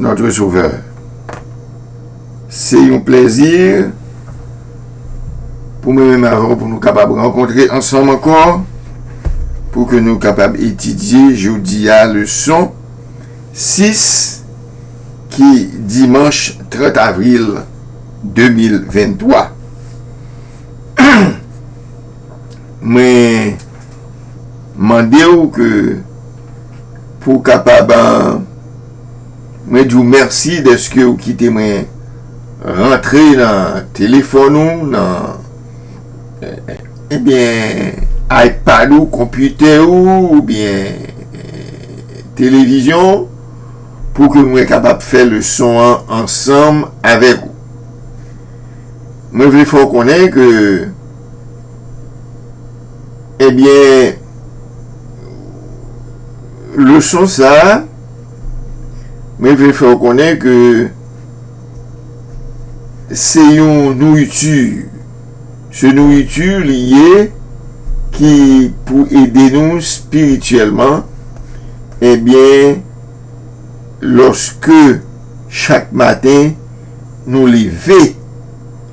notre Sauveur. Se yon plèzi pou mwen menm avè w pou nou kapab rankontre ansanm ankò, pou ke nou kapab etidye jodi a leson 6 ki dimanch 30 avril 2023. mwen mande ou ke pou ou kapab mwen di ou mèsi dèske ou kite mwen rantre nan telefòn ou nan ebyen ipad ou konpitè ou oubyen televizyon pou ke mwen kapab fè leson an ansanm avèk ou mwen vle fè ou konnen ke Ebyen leson sa mwen vle fè w konnen ke se yon nouriti, se nouriti li ye ki pou ede nou spirityèlman, ebyen lòske chak maten nou leve.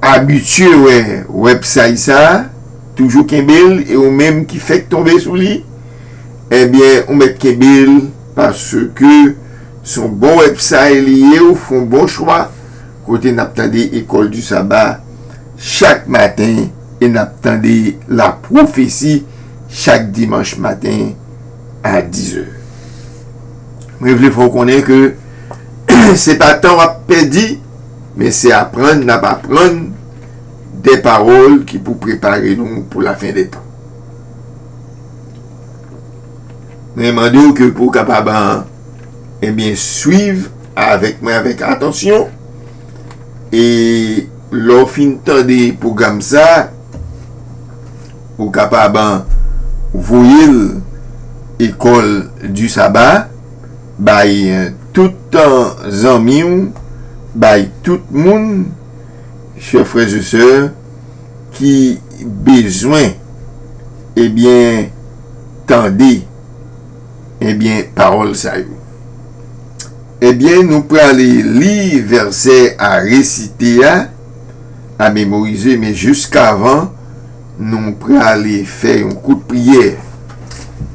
abitye wè website sa toujou kenbel e ou menm ki fèk tonbe sou li ebyen ou mèt kenbel paske son bon website li ye ou fon bon chwa kote nap tande ecole du sabbat chak maten e nap tande la profesi chak dimanch maten a 10 è mwen vle fè ou konnen ke se pa tan wap pèdi. Men se aprann n ap aprann de pawòl ki pou prepare nou pou lafendètan. Mwen mande w ke pou w kapab enbyen swiv avèk mwen avèk atansyon e lè w fin tande pwogram sa a, ou kapab voye l Ecole du Sabbat. Bay tout tan zanmi w bay tout moun chè frè ze sè ki bezwen ebyen tande ebyen pawòl sa yo ebyen nou prale li vèsè a resite a a memorize men jiskavan Nou prale fè yon kout priyè.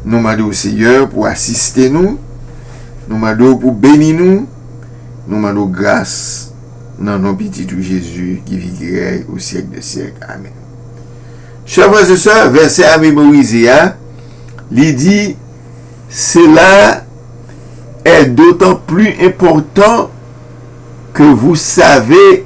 Nou mande w Seyè pou asiste nou, nou mande w pou beni nou, nou mande w gras nan non pitit ou Jezi ki viv ki rèy o syèk dè syèk. Amèn. Chè frè se sè, vèsè a memorize a, li di, Cela est d'autant plus important que vous savez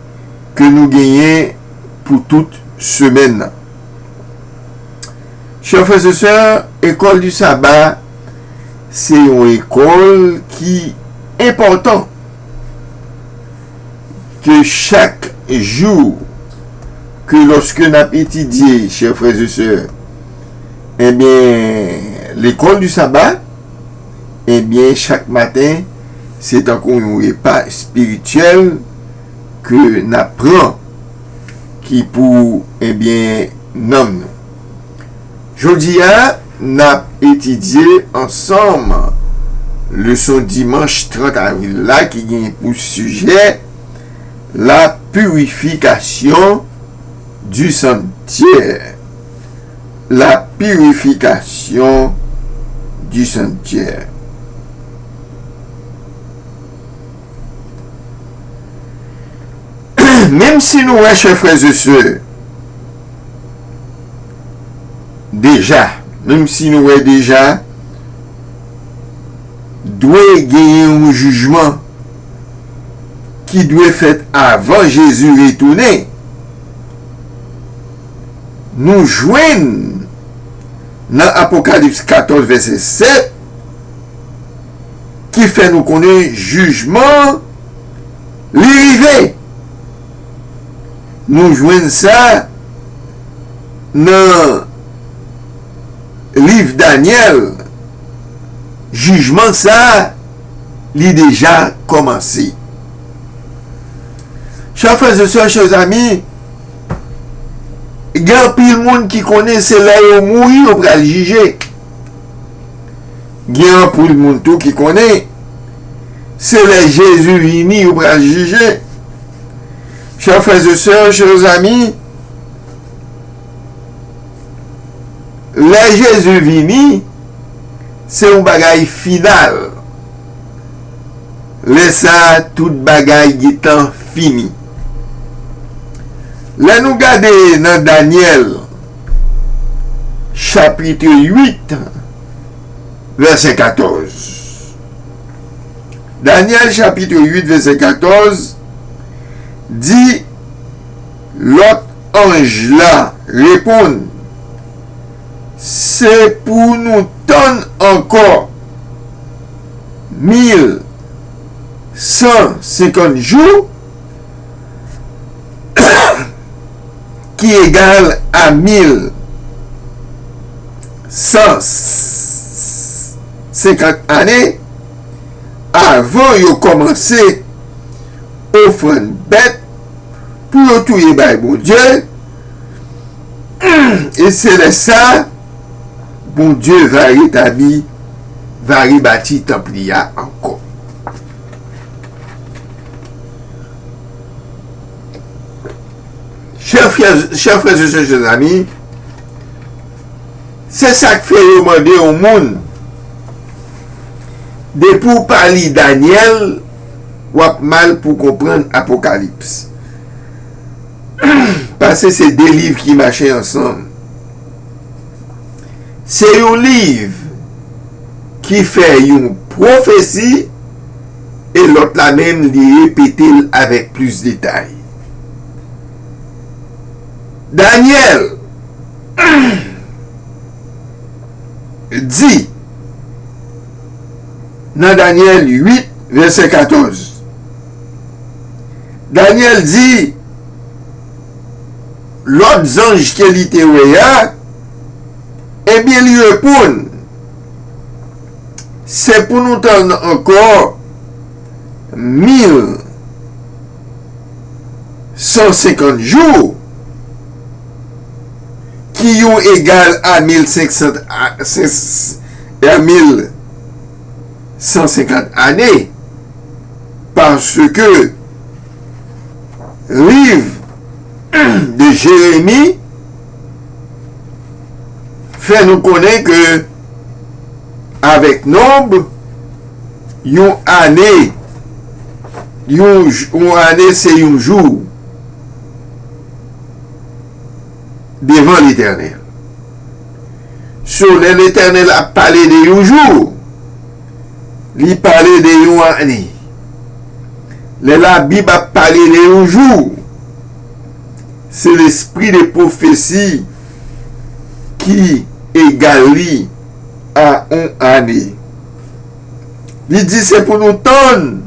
ke nou genyen pou tout semèn nan. Chè frè se sè, Ecole du Sabbat se yon ekòl ki enpòtan ke chak jou ke lòske nap etidye, chè frè se sè, ebyen L'Ecole du Sabbat, ebyen chak maten se tankou yon repa espirityèl. ke nap pran ki pou ebyen nanm nou. Jodi a nap etidye ansanm leson dimanch 30 avril la ki gen pou sijè La purification du sanctuaire La purification du sanctuaire. Menm si nou wè chè frè ze sè deja menm si nou wè deja dwe genyen yon jijman ki dwe fèt avan jezi retounen nou jwenn nan apokalips 14 vèsè 7 ki fè nou konnen jijman li rive. Nou jwenn sa nan liv Danyèl, jijman sa a li deja kòmanse. Chè frè e sè, chè zanmi, gen anpil moun ki konnen se lè yo mouri yo pral jije. Gen anpil moun tou ki konnen se lè Jezi vini yo pral jije. Chè frères et sœurs, chers amis, lè Jezi vini se yon bagay final. Lè sa tout bagay gentan fini. Lè nou gade nan Daniel chapitre 8. vèsè 14. Danyèl chapitre 8 vèsè 14 di lòt anj la reponn, Se pou nou tann ankò mil san senkant jou ki egal a 1150 ane avan yo kòmanse ofrann bèt pou yo touye bay Bondye, e se lè sa a Bondye va retabli, va rebati tanp li a ankò. Chè frè se chè zami, se sak fè yo mande yon moun depi w pa li Danyèl w ap mal pou konprann Apokalips. Pase se de liv ki mache ansanm. Se yon liv ki fè yon pwofesi. E lòt la menm li repete l avèk plis detay. Dànyèl di nan Dànyèl 8, vèsè 14, Dànyèl di lòt zanj ke li te wè a, Ebyen li reponn. Se pou nou tann ankò 1150 jou, ki yo egal a 1150 ane, paske liv de Jeremi. fè nou konnen ke avèk nonb yon ane yon ane se yon jou devan letènèl so lè letènèl ap pale de yon jou li pale de yon ane lè labib ap pale de yon jou Se lespri de pwofesi ki egal li a yon ane. Li di se pou nou tann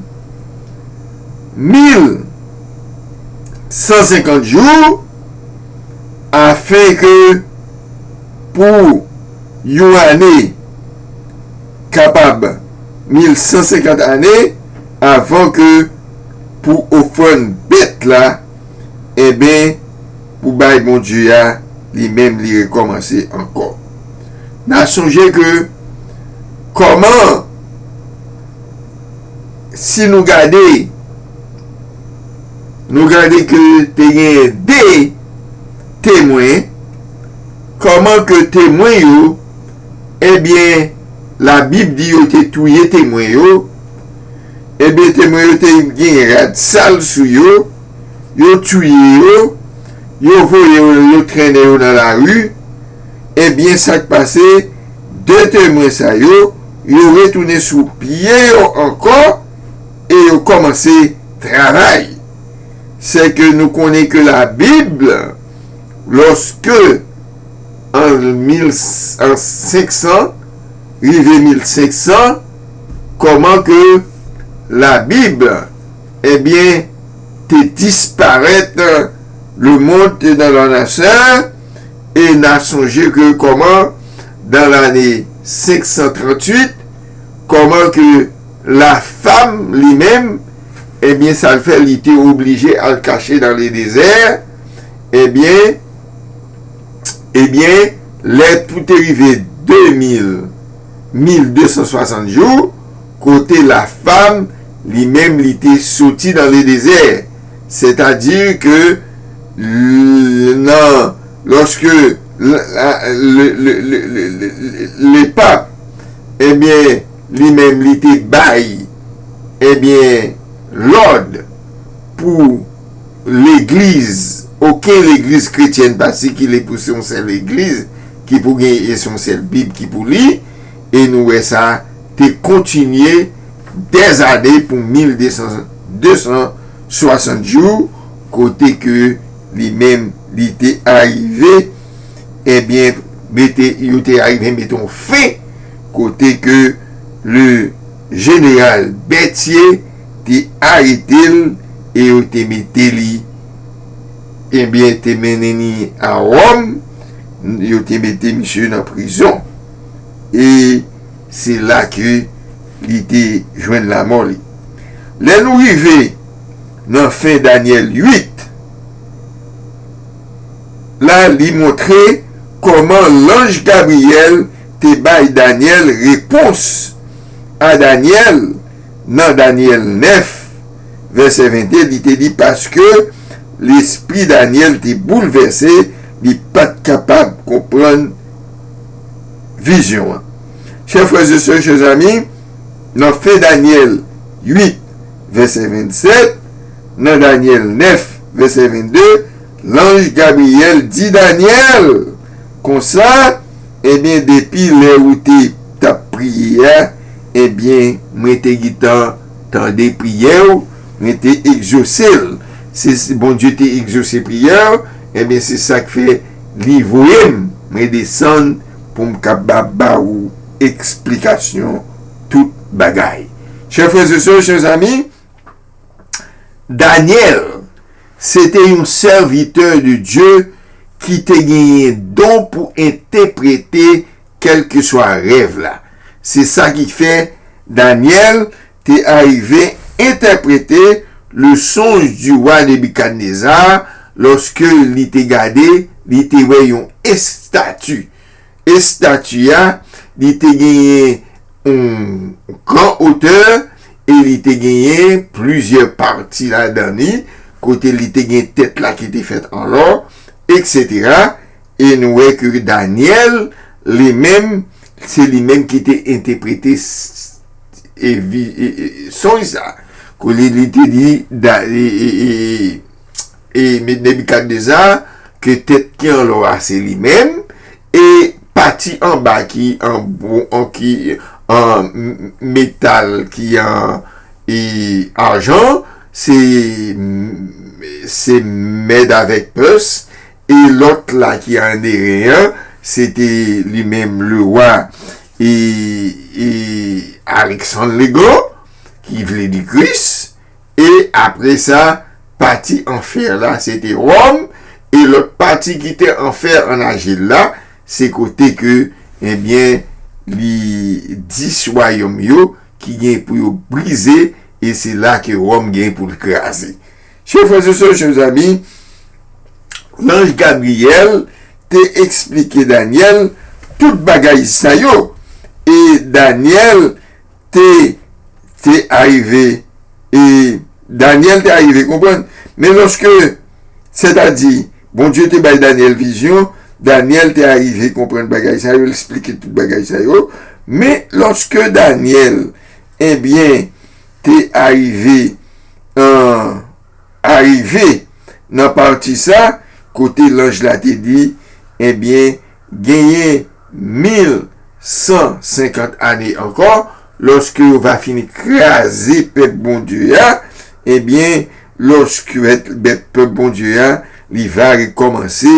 1150 jou afin ke pou yon ane kapab 1150 ane avan ke pou ofrann bèt la Enben, pou bay Bondye a, li menm li rekòmanse ankò. N a sonje ke, kòman, si nou gade, nou gade ke te genyen de temwen, kòman ke temwen yo, enben, Labib di yo te touye temwen yo, Ebyen temwen yo te gen rad sal sou yo, yo touye yo, yo voye yo, yo trennen yo nan lari, ebyen sa k pase, de temwen sa yo, yo retounen sou pye yo ankò e yo kòmanse travay. Sèke nou konnen ke Labib, lòske an 1500 rive 1500, Kòman ke labib ebyen te disparèt le mond te nan la naceur e na sonje ke kòman dan lane 538 kòman ke la fam li menm ebyen sa l fè li te oblije al kache dan le dezè ebyen ebyen lè pou te rive 2000. 1260 jou kote la fam li menm li te soti dan le dezè sètadi ke l nan lòske l le pap ebyen li menm li te bay ebyen lòd pou legliz oken legliz kretyèn pa sikile pou se yon sèl legliz ki pou gen e son sèl bib ki pou li e nou wè sa te kontinye des années pou 1260 jou kote ke li menm li te arive ebyen mete yo te arive mete yon fen kote ke le jeneral Berthier te arete l e yo te mete li ebyen te mennen li a Rome. Yo te mete misye nan prizon e se la ke li te jwenn lamò li. Lè nou rive nan fen Danyèl 8 la, li montre kòman lanj Gabriyèl te bay Danyèl repons a Danyèl nan Danyèl 9. vèsè 22, li te di, Paske, lespri Dànyèl te boulvèse, li pa t kapab konprann vizyon an. Chè frèzesè, chè zanmi, nan fen Dànyèl 8, vèsè 27, nan Dànyèl 9, vèsè 22, lanj Gabriyèl di Dànyèl konsa, Enben, depi lè ou te t ap priye a, enben, mwen te gentan Tande priyè w, mwen te egzose l. Se Bondye te egzose priyè w, enben se sa k fè li voye m. Mwen desann pou m kapab ba ou eksplikasyon tout bagay. Chè frè e sè, chè zanmi, Dànyèl se te yon sèvitè de Dye ki te genyen don pou enteprete Kèlkeswa rèv la. Se sa ki fè Danyèl te arive entèprete le sonj du roi Nebuchadnezzar lorsque li te gade, li te wè yon estati. Estati a, li te genyen yon gran otè e li te genyen plizyè pati ladan li, kote li te gen tèt la ki te fèt an lò, eksetera, E nou wè ke Danyèl li menm, se li menm ki te enteprete sonj sa a. Kote li te di Nebikadneza ke tèt ki an lò a se li menm, e pati an ba ki an metal, ki an ajan, se mèd avèk pès, E lòt la ki an Eren an, se te li menm lewa e e Aleksann le Gran, ki vle di Kris, e apre sa, pati an fè la se te Wòm, e lòt pati ki te an fè an ajil la, se kote ke, ebyen, li dis wayòm yo ki gen pou yo brize, e se la ke Wòm gen pou l kraze. Chè frè se sè, chè zanmi, lanj Gabriyèl te eksplike Danyèl tout bagay sa yo, e Danyèl te te arive e Danyèl te arive konprann. Men lòske, sètadi, Bondye te bay Danyèl vizyon, Danyèl te arive konprann bagay sa yo, l esplike tout bagay sa yo, men lòske Danyèl Enbyen, te arive an arive nan pati sa kote lanj la te di, Enbyen, genyen mil san senkant ane ankò, lòske yo va fin kraze pèp Bondye a, enbyen, lòske bèt pèp Bondye a, li va rekòmanse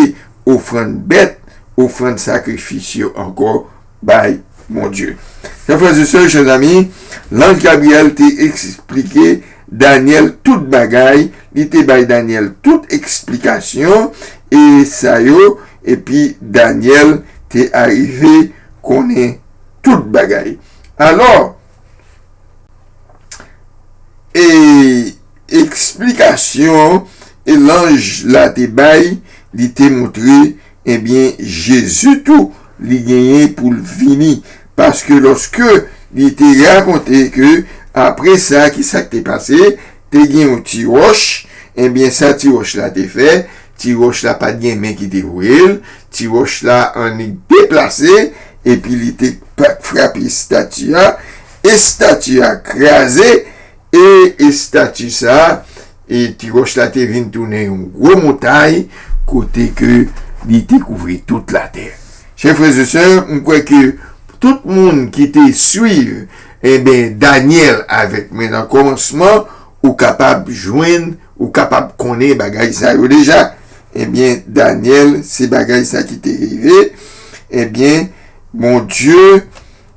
ofrann bèt, ofrann sakrifis yo ankò bay Bondye. Chè frè e sè, chè zanmi, lanj Gabriyèl te esplike Danyèl tout bagay, li te bay Danyèl tout esplikasyon e sa yo, epi Danyèl te arive konnen tout bagay. Alò, e esplikasyon e lanj la te bay, li te montre Ebyen Jezi tou li genyen poul vini paske loske li te rakonte ke apre sa kisak te pase te gen yon ti ròch ebyen sa ti ròch la te fè ti ròch la pat gen men ki te voyel ti ròch la annik deplase epi li te frape estati a estati a kraze E estati sa a, e ti wòch la te vin tounen yon gwo montay kote ke li te kouvri tout latè. Chè frè e sè, m kwè ke pou tout moun ki te swiv, enben, Danyèl avèk mwen nan kòmansman, ou kapab jwenn, ou kapab konnen bagay sa yo deja. Enben, Danyèl, se bagay sa ki te rive, enben, Bondye.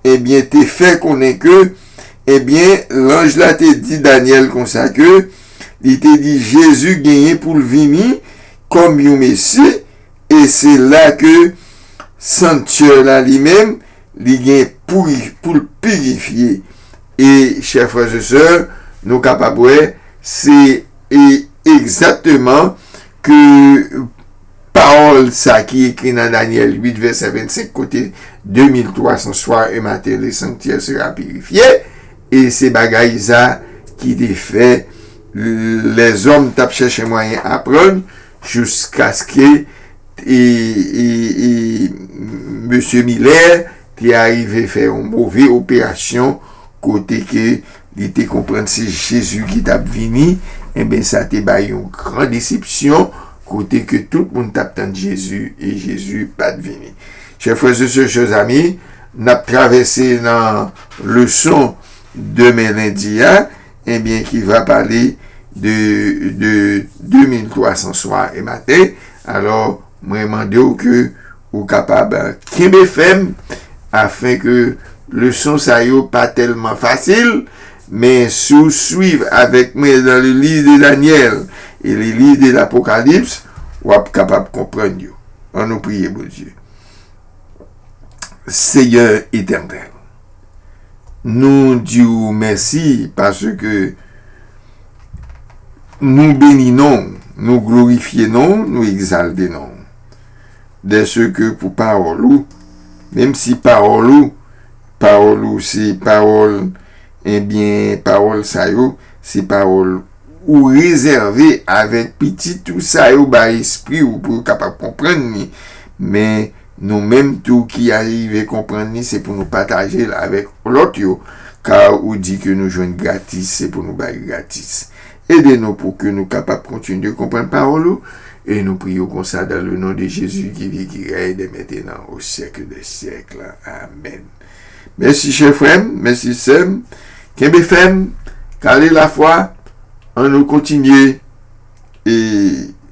Ebyen te fè konnen ke, ebyen lanj la te di Danyèl konsa ke, li te di Jezi genyen pou l vini kòm yon Mesi, e se la ke sanktyè la li menm li gen pou l pirifye. E chè frères et sœurs, nou kapab wè se egzakteman ke. Pawòl sa ki ekri nan Danyèl 8, vèsè 25, kote, De mil tou a san swa e maten le sanktyè sera pirifye, e se bagay sa ki te fè lèzòm t ap chèche mwayen aprann jouskaske Mesye Miller te arive fè yon move operasyon kote ke Li te konprann se Jezi ki t ap vini, enben sa te bay yon gran desepsyon kote ke tout moun t ap tann Jezi e Jezi pa t vini. Chè frè e sè, chè zanmi, n ap travèse nan leson demen lendi a, enben ki va pale de 2300 swa e maten, alò mwen mande w ke Ou kapab kenbe fèm afin ke leson sa yo pa tèlman fasil, men si w swiv avèk mwen nan le liv de Danyèl e le liv de Lapokalips, w ap kapab konprann yo. An nou priye Bondye. Senyè Etènèl, nou di w mèsi paske nou beni non w, nou glorifye non w, nou egzalte non w. dèseke pou pawòl ou, menm si pawòl ou, pawòl ou se pawòl, enbyen pawòl sa yo, se pawòl ou rezève avèk pitit ou sa yo bay espri ou pou yo kapab konprann li, men nou menm tou ki arive konprann li se pou nou pataje l avèk lòt yo, ka ou di ke nou jwenn gratis se pou nou bay gratis. Ede nou pou ke nou kapab kontinye konprann pawòl ou, e nou priye w konsa dan le non de Jezi ki vi ki rèy dè mentenan o syèkle dè syèkle. Amèn. Mèsi chè frè m, mèsi sè m. Kenbe fèm, kale lafwa, an nou kontinye e.